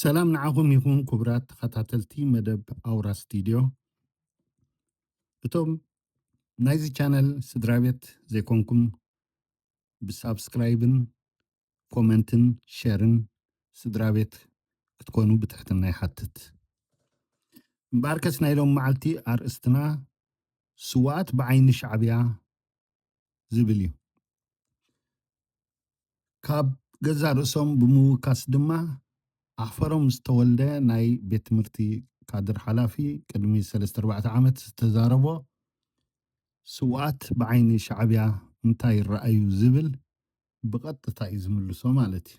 ሰላም ንዓኹም ይኹን ክቡራት ተኸታተልቲ መደብ ኣውራ ስቱድዮ እቶም ናይዚ ቻነል ስድራ ቤት ዘይኮንኩም ብሳብስክራይብን ኮመንትን ሸርን ስድራ ቤት ክትኮኑ ብትሕትና ይሓትት እምበኣርከስ ናይ ሎም መዓልቲ ኣርእስትና ስዋኣት ብዓይኒ ሻዕብያ ዝብል እዩ። ካብ ገዛእ ርእሶም ብምውካስ ድማ ኣሕፈሮም ዝተወልደ ናይ ቤት ትምህርቲ ካድር ሓላፊ ቅድሚ ሰለስተ ኣርባዕተ ዓመት ዝተዛረቦ ስውኣት ብዓይኒ ሻዕብያ እንታይ ይረኣዩ ዝብል ብቐጥታ እዩ ዝምልሶ ማለት እዩ።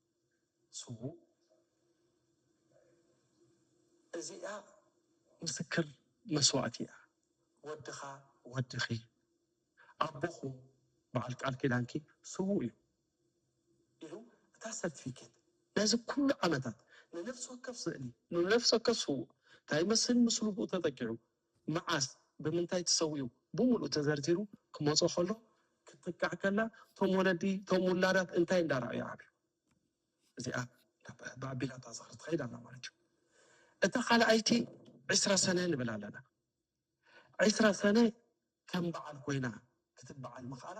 ስዉእ እዚኣ ምስክር መስዋእቲ እያ ወድኻ ወድኺ ኣቦኹም በዓል ቃል ኪዳንኪ ስዉእ እዩ ኢሉ እታ ሰርቲፊኬት ነዚ ኩሉ ዓመታት ንነፍሲ ወከፍ ስእሊ ንነፍሲ ወከፍ ስዉእ እንታይ ይመስል ምስሉ ብኡ ተጠቂዑ መዓስ ብምንታይ ተሰዊኡ ብሙሉኡ ተዘርዚሩ ክመጾ ከሎ ክትጥቃዕ ከላ ቶም ወለዲ ቶም ውላዳት እንታይ እንዳ ራኣዩ ዓብዩ እዚኣ ናብ ኣቢላታ ዝኽሪ ትኸይድ ኣላ ማለት እዩ እታ ካልኣይቲ ዕስራ ሰነ ንብል ኣለና ዕስራ ሰነ ከም በዓል ኮይና ክትበዓል ምኽኣላ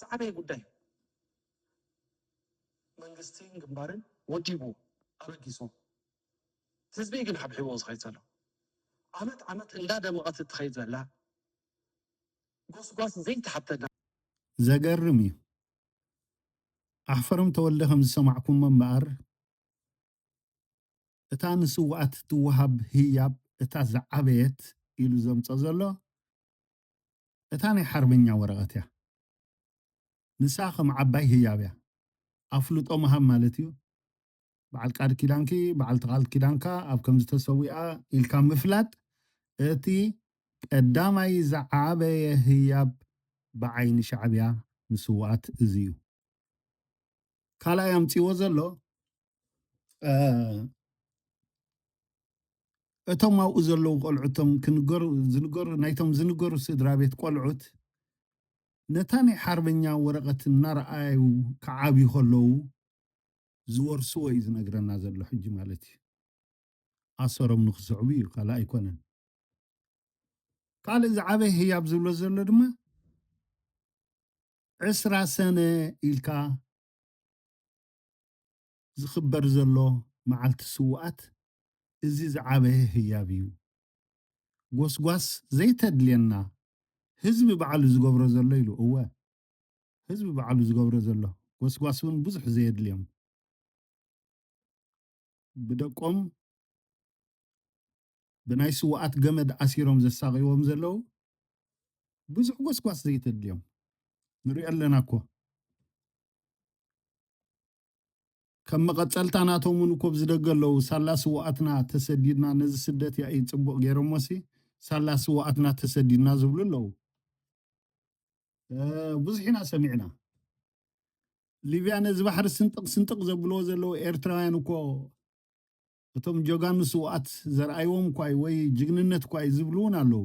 ዝዓበየ ጉዳይ እዩ መንግስትን ግንባርን ወዲቡ ኣበጊስዎ። ህዝቢ ግን ሓብሒቦ ዝኸይድ ዘሎ ዓመት ዓመት እንዳደመቐት እትኸይድ ዘላ ጎስጓስ ዘይተሓተና ዘገርም እዩ ኣሕፈሮም ተወልደ ከም ዝሰማዕኩሞ እምበኣር እታ ንስውኣት ትወሃብ ህያብ እታ ዝዓበየት ኢሉ ዘምጾ ዘሎ እታ ናይ ሓርበኛ ወረቐት እያ ንሳ ከም ዓባይ ህያብ እያ ኣፍልጦ ምሃብ ማለት እዩ በዓል ቃል ኪዳንኪ በዓልቲ ቃል ኪዳንካ ኣብ ከምዚ ተሰዊኣ ኢልካ ምፍላጥ እቲ ቀዳማይ ዝዓበየ ህያብ ብዓይኒ ሻዕብያ ንስውኣት እዚ እዩ ካልኣይ ኣምጺዎ ዘሎ እቶም ኣብኡ ዘለዉ ቆልዑቶም ክንገሩ ዝንገሩ ናይቶም ዝንገሩ ስድራ ቤት ቆልዑት ነታ ናይ ሓርበኛ ወረቐት እናረኣዩ ክዓብዩ ከለዉ ዝወርስዎ እዩ ዝነግረና ዘሎ ሕጂ ማለት እዩ ኣሰሮም ንክስዕቡ እዩ ካልእ ኣይኮነን ካልእ ዝዓበየ ህያብ ዝብሎ ዘሎ ድማ ዕስራ ሰነ ኢልካ ዝኽበር ዘሎ መዓልቲ ስውኣት እዚ ዝዓበየ ህያብ እዩ ጎስጓስ ዘይተድልየና ህዝቢ ባዕሉ ዝገብሮ ዘሎ ኢሉ እወ ህዝቢ ባዕሉ ዝገብሮ ዘሎ ጎስጓስ ውን ብዙሕ ዘየድልዮም ብደቆም ብናይ ስውኣት ገመድ ኣሲሮም ዘሳቕይዎም ዘለው ብዙሕ ጎስጓስ ዘይተድልዮም ንሪኦ ኣለና እኮ። ከም መቐጸልታ ናቶም ውን እኮ ብዝደገ ኣለዉ ሳላ ስውኣትና ተሰዲድና ነዚ ስደት ያኢ ጽቡቕ ጌሮሞሲ ሳላ ስውኣትና ተሰዲድና ዝብሉ ኣለዉ ብዙሕ ኢና ሰሚዕና ሊብያ ነዚ ባሕሪ ስንጥቕ ስንጥቕ ዘብልዎ ዘለዉ ኤርትራውያን እኮ እቶም ጀጋኑ ስውኣት ዘርኣይዎም እኳ እዩ ወይ ጅግንነት እኳ እዩ ዝብሉ እውን ኣለዉ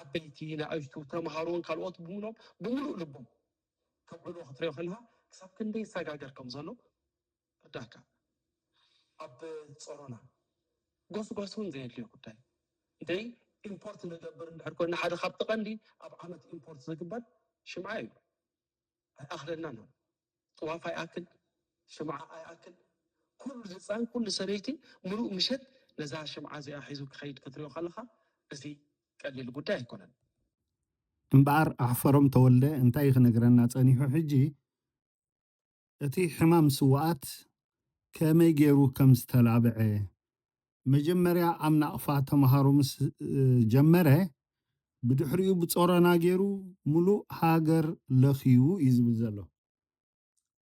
ዓበይቲ፣ ንኣሽቱ፣ ተምሃሮን ካልኦት ብምሎም ብምሉእ ልቦም ከብዕልዎ ክትሪኦ ከለኻ ክሳብ ክንደይ ይሰጋገር ከም ዘሎ ይርዳካ። ኣብ ጸሮና ጎስጓስ እውን ዘየድልዮ ጉዳይ እንተይ ኢምፖርት ንገብር እንድሕር ኮና ሓደ ካብቲ ቀንዲ ኣብ ዓመት ኢምፖርት ዝግበር ሽምዓ እዩ። ኣይኣኽለናን ኣሎ ጥዋፍ ኣይኣክል ሽምዓ ኣይኣክል ኩሉ ህፃን ኩሉ ሰበይቲ ምሉእ ምሸት ነዛ ሽምዓ እዚኣ ሒዙ ክኸይድ ክትሪኦ ከለኻ እዚ ቀሊል ጉዳይ ኣይኮነን። እምበኣር ኣሕፈሮም ተወልደ እንታይ ክነግረና ጸኒሑ ሕጂ እቲ ሕማም ስውኣት ከመይ ገይሩ ከም ዝተላብዐ መጀመርያ ኣብ ናቕፋ ተምሃሩ ምስ ጀመረ ብድሕሪኡ ብጾሮና ጌሩ ምሉእ ሃገር ለኽዩ እዩ ዝብል ዘሎ።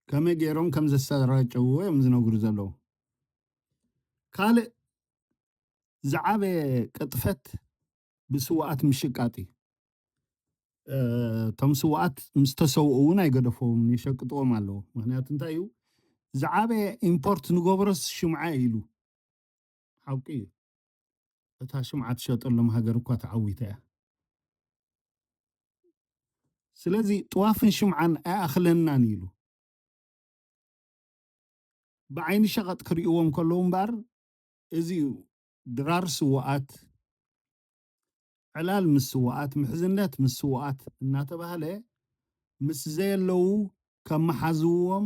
ከመይ ጌሮም ከም ዘሰራጨውዎ እዮም ዝነግሩ ዘለዉ። ካልእ ዝዓበየ ቅጥፈት ብስውኣት ምሽቃጥ እዩ። እቶም ስውኣት ምስ ተሰውኡ እውን ኣይገደፈዎም የሸቅጥዎም ኣለዉ። ምክንያቱ እንታይ እዩ ዝዓበየ ኢምፖርት ንገብሮስ ሽምዓ እዩ ኢሉ ሓቁ እዩ እታ ሽምዓ ትሸጠሎም ሃገር እኳ ተዓዊታ እያ ስለዚ ጥዋፍን ሽምዓን ኣይኣኽለናን ኢሉ ብዓይኒ ሸቐጥ ክርእዎም ከለዉ እምበኣር እዚ እዩ ድራር ስውኣት ዕላል ምስ ስውኣት ምሕዝነት ምስ ስውኣት እናተባህለ ምስ ዘየለዉ ከመሓዝዎም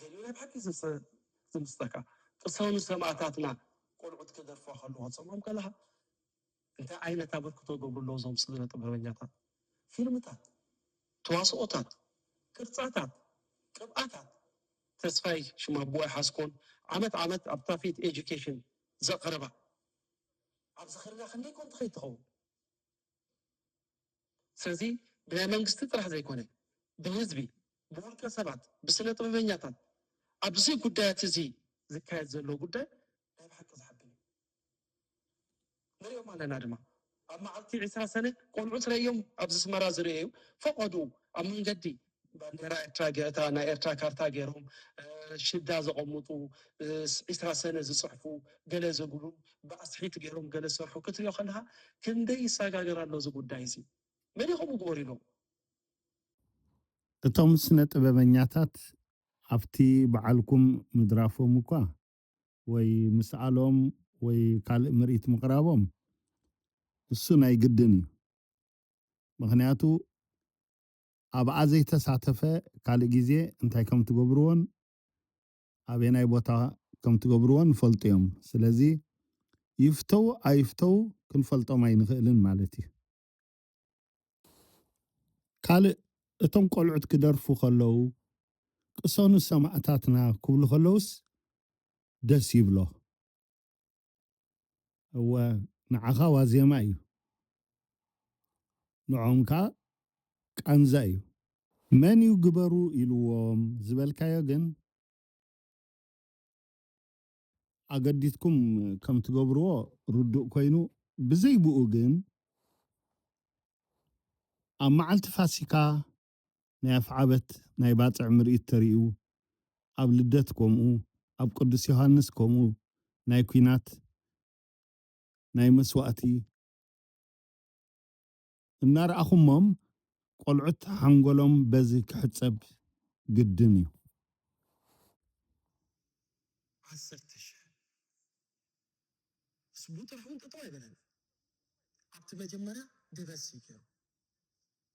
ገለ ናይ ብሓቂ ዝምስጠካ ቅሰኑ ሰማእታትና ቆልዑት ክደርፍዋ ከለዋ ትሰምዖም ከለካ እንታይ ዓይነት ኣበርክቶ ይገብሩ ኣለዉ እዞም ስነ ጥበበኛታት ፊልምታት ተዋስኦታት ቅርጻታት ቅብኣታት ተስፋይ ሽም ኣቦ ኣይሓዝኮን ዓመት ዓመት ኣብ ታፊት ኤጁኬሽን ዘቕርባ ኣብ ዝኽርና ክንደይ ኮን ትኸይድ ትኸውን ስለዚ ብናይ መንግስቲ ጥራሕ ዘይኮነ ብህዝቢ፣ ብውልቀ ሰባት፣ ብስነ ጥበበኛታት ኣብዚ ጉዳያት እዚ ዝካየድ ዘሎ ጉዳይ ናይ ብሓቂ ዘሐብን እዩ። ንሪኦም ኣለና ድማ ኣብ መዓልቲ ዕስራ ሰነ ቆልዑት ረእዮም ኣብዚ ስመራ ዝርኤዩ ፈቐድኡ ኣብ መንገዲ ባንዴራ ኤርትራ ገታ ናይ ኤርትራ ካርታ ገይሮም ሽዳ ዘቐምጡ ዒስራ ሰነ ዝጽሕፉ ገለ ዝብሉ ብኣስሒት ገይሮም ገለ ዝሰርሑ ክትሪኦ ከለኻ ክንደይ ይሰጋገር ኣሎ እዚ ጉዳይ እዚ መን ከምኡ ግበሩ ኢሎም እቶም ስነ ጥበበኛታት ኣብቲ በዓልኩም ምድራፎም እኳ ወይ ምስኣሎም ወይ ካልእ ምርኢት ምቕራቦም እሱ ናይ ግድን እዩ ምኽንያቱ ኣብኣ ዘይተሳተፈ ካልእ ግዜ እንታይ ከም እትገብርዎን ኣበየናይ ቦታ ከም እትገብርዎን ይፈልጡ እዮም። ስለዚ ይፍተዉ ኣይፍተዉ ክንፈልጦም ኣይንኽእልን ማለት እዩ። ካልእ እቶም ቆልዑት ክደርፉ ከለዉ ቅሰኑ ሰማእታትና ክብሉ ከለዉስ ደስ ይብሎ። እወ ንዓኻ ዋዜማ እዩ፣ ንዖም ከኣ ቃንዛ እዩ። መን እዩ ግበሩ ኢልዎም ዝበልካዮ ግን ኣገዲትኩም ከም ትገብርዎ ርዱእ ኮይኑ ብዘይ ብኡ ግን ኣብ መዓልቲ ፋሲካ ናይ ኣፍዓበት ናይ ባጽዕ ምርኢት ተርእዩ ኣብ ልደት ኮምኡ ኣብ ቅዱስ ዮሃንስ ኮምኡ ናይ ኩናት ናይ መስዋእቲ እናርኣኹሞም ቆልዑት ሓንጎሎም በዚ ክሕጸብ ግድን እዩ። ዓሰርተ ሽሕ ስቡ ጥራሕ ውን ጠጠው ኣይበለን ኣብቲ መጀመርያ ድበስ እዩ ገሩ።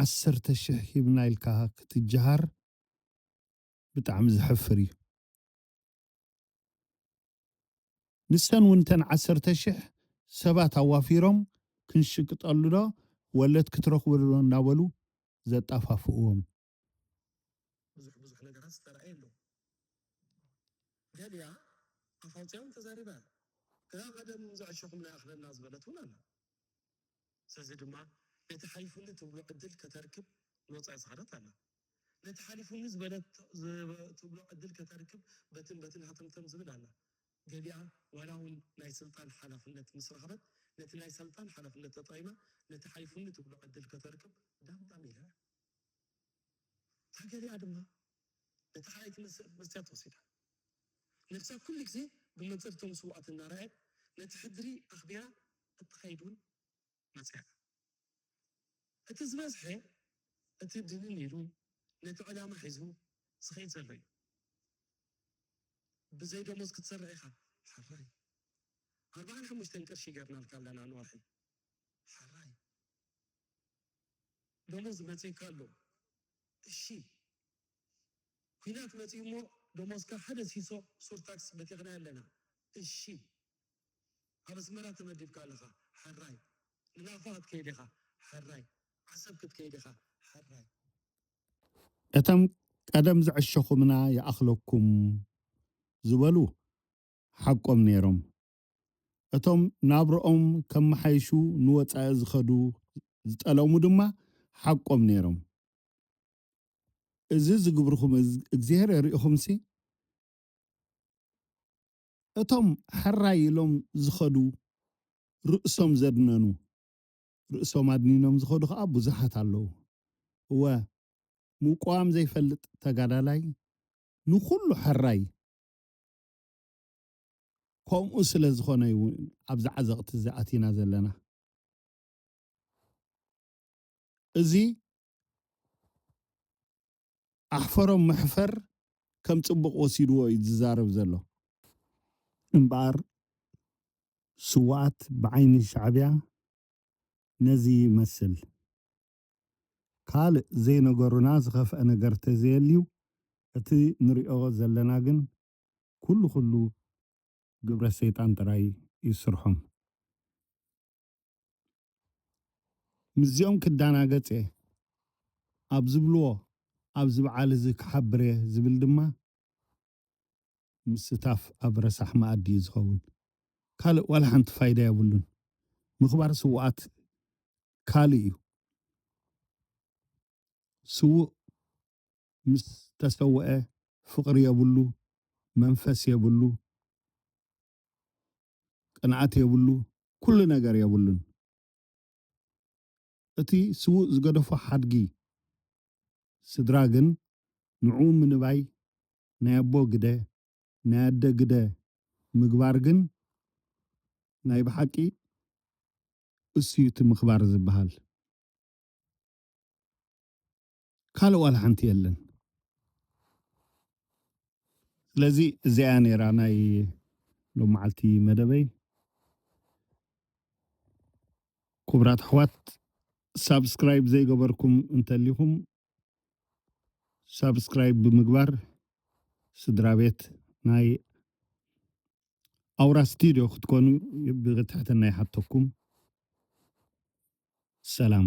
ዓሰርተ ሽሕ ሂብና ኢልካ ክትጀሃር ብጣዕሚ ዘሕፍር እዩ ንሰን እውን እተን ዓሰርተ ሽሕ ሰባት ኣዋፊሮም ክንሽቅጠሉ ዶ ወለት ክትረኽቡ ዶ እንዳበሉ ዘጣፋፍእዎም ብዙሕ ብዙሕ ነገራት ዝተራእየ ኣሎ። ገሊኣ ኣፍ ኣውጺኣውን ተዛሪባ እያ። እታ ቀደም ዘዕሸኹምና ይኣኽለና ዝበለት እውን ኣላ። ስለዚ ድማ ነቲ ሓሊፉኒ ትብሎ ዕድል ከተርክብ ንወጻኢ ዝኸደት ኣላ። ነቲ ሓሊፉኒ ዝበለት ትብሎ ዕድል ከተርክብ በትን በትን ሃተምተም ዝብል ኣላ። ገሊኣ ዋላ እውን ናይ ስልጣን ሓላፍነት ምስ ረኸበት ነቲ ናይ ሰልጣን ሓላፍነት ተጠቒማ ነቲ ሓሊፉኒ ትብሎ ዕድል ከተርክብ ዳምዳም ኢላ እያ። ተገሪያ ድማ ነቲ ካልኣይ ትምህርቲ መስትያት ወሲዳ። ነብሳ ኩሉ ግዜ ብመንጽር እቶም ስውኣት እናረኣየት ነቲ ሕድሪ ኣኽቢራ እትኸይድ እውን መጺኣ። እቲ ዝበዝሐ እቲ ድንን ኢሉ ነቲ ዕላማ ሒዙ ዝኸይድ ዘሎ እዩ። ብዘይ ደሞዝ ክትሰርሕ ኢኻ? ሕራይ። ኣርብዓን ሓሙሽተን ቅርሺ ገርናልካ ኣለና ንወርሒ። ሕራይ። ደሞዝ መጺኡካ ኣሎ እሺ ኩናት መጺኡ እሞ ደሞዝካ ሓደ ሲሶ ሱር ታክስ በቲኽናዮ ኣለና እሺ ኣብ ኣስመራ ተመዲብካ ኣለኻ ሐራይ ንናቕፋ ክትከይድ ኢኻ ሐራይ ዓሰብ ክትከይድ ኢኻ ሐራይ እቶም ቀደም ዝዐሸኹምና ይኣኽለኩም ዝበሉ ሓቆም ነይሮም እቶም ናብርኦም ከመሓይሹ ንወጻኢ ዝኸዱ ዝጠለሙ ድማ ሓቆም ነይሮም። እዚ ዝግብርኹም እግዚሄር ርኢኹምሲ፣ እቶም ሕራይ ኢሎም ዝኸዱ ርእሶም ዘድነኑ፣ ርእሶም ኣድኒኖም ዝኸዱ ከኣ ብዙሓት ኣለዉ። እወ፣ ምቁዋም ዘይፈልጥ ተጋዳላይ ንኹሉ ሕራይ፣ ከምኡ ስለ ዝኾነ እዩ ኣብዚ ዓዘቕቲ እዚ ኣቲና ዘለና እዚ ኣሕፈሮም መሕፈር ከም ፅቡቕ ወሲድዎ እዩ ዝዛረብ ዘሎ እምበኣር ስዋኣት ብዓይኒ ሻዕቢያ ነዚ ይመስል ካልእ ዘይነገሩና ዝኸፍአ ነገር ተዘየልዩ እቲ ንሪኦ ዘለና ግን ኩሉ ኩሉ ግብረ ሰይጣን ጥራይ እዩ ስርሖም። ምስዚኦም ክዳናገጽ እየ ኣብ ዝብልዎ ኣብዚ ብዓል እዚ ክሓብር እየ ዝብል ድማ ምስታፍ ኣብ ረሳሕ መኣዲ እዩ ዝኸውን ካልእ ዋላ ሓንቲ ፋይዳ የብሉን። ምኽባር ስውኣት ካልእ እዩ ስውእ ምስ ተሰወኤ ፍቅሪ የብሉ መንፈስ የብሉ ቅንኣት የብሉ ኩሉ ነገር የብሉን እቲ ስውእ ዝገደፎ ሓድጊ ስድራ ግን ንዑኡ ምንባይ ናይ ኣቦ ግደ ናይ ኣደ ግደ ምግባር ግን ናይ ብሓቂ እሱዩ እቲ ምክባር ዝብሃል። ካልእ ዋላ ሓንቲ የለን። ስለዚ እዚኣ እያ ነይራ ናይ ሎም መዓልቲ መደበይ። ክቡራት ኣሕዋት ሳብስክራይብ ዘይገበርኩም እንተሊኹም ሳብስክራይብ ብምግባር ስድራ ቤት ናይ ኣውራ ስቱድዮ ክትኮኑ ብትሕትና ይሓተኩም። ሰላም